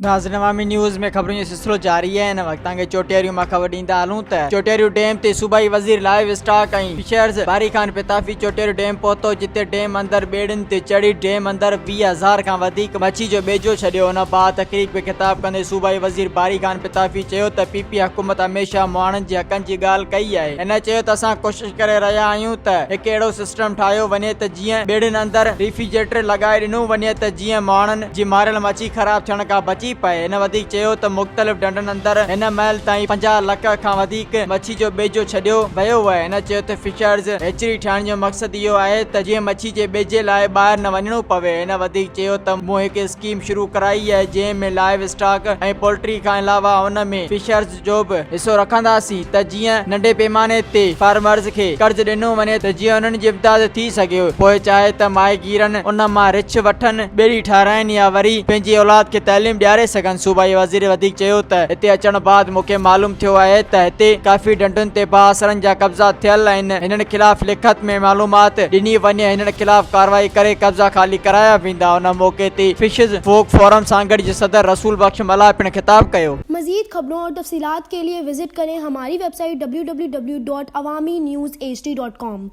ناظرين عوامي نيوز ۾ خبرن جو سلسلو جاري آهي ان وقت توهان کي چوٽيريون مان خبر ڏيندا هلون ته چوٽيريو ڊيم تي صوبائي وزير لائيو اسٽاڪ ۽ فشرز باري خان پتافي چوٽيريو ڊيم پهتو جتي ڊيم اندر ٻيڙين تي چڙهي ڊيم اندر ٽيهه هزار کان وڌيڪ مڇي جو ٻيجو ڇڏيو ان بعد تقريب کي خطاب ڪندي صوبائي وزير باري خان پتافي چيو ته پي پي حڪومت هميشه مهاڻن جي حقن جي ڳالهه ڪئي آهي هن چيو ته اسان ڪوشش ڪري رهيا آهيون ته هڪ اهڙو سسٽم ٺاهيو وڃي ته جيئن ٻيڙين اندر ريفيجريٽر لڳائي ڏنو وڃي ته جيئن مهاڻن جي ماريل مڇي خراب ٿيڻ کان بچي پئي هن وڌيڪ چيو ته مختلف ڍنڍن اندر هن مهل تائين پنجاهه لک کان وڌيڪ مڇي مڇي جو ٻيجو ڇڏيو ويو وهي هن چيو ته فشرز هيچري ٺاهڻ جو مقصد اهو آهي ته جيئن مڇي جي ٻيجي لاء ٻاهر نه وڃڻو پوي هن وڌيڪ چيو ته مون هڪ اسڪيم شروع ڪرائي آهي جنهن ۾ لائيو اسٽاڪ ۽ پولٽري کان علاوه ان ۾ فشرز جو به حصو رکنداسين ته جيئن ننڍي پيماني تي فارمرز کي قرض ڏنو وڃي ته جيئن انهن جي امداد ٿي ٿي سگهيو، پوء چاهي ته ماهيگيرن ان مان رڇ وٺن، ٻيڙي ٺاراهين يا وري پنهنجي اولاد کي تعليم ڏياري سگهن. صوبائي وزير وڌيڪ چيو ته هتي اچڻ بعد مون کي معلوم ٿيو آهي ته هتي ڪافي ڍنڍن تي بااثرن جا قبضا ٿيل آهن، هنن خلاف لکت ۾ معلومات ڏني وڃي، هنن خلاف ڪارروائي ڪري قبضا خالي ڪرايا ويندا. ان موقعي تي فشز فوڪ فورم سانگهڙ جي صدر رسول بخش ملاح پڻ خطاب ڪيو. مزيد خبرون اور تفصيلات کے لئے وزٽ ڪرين ھماري ويب سائيٽ www.awaminews hd.com.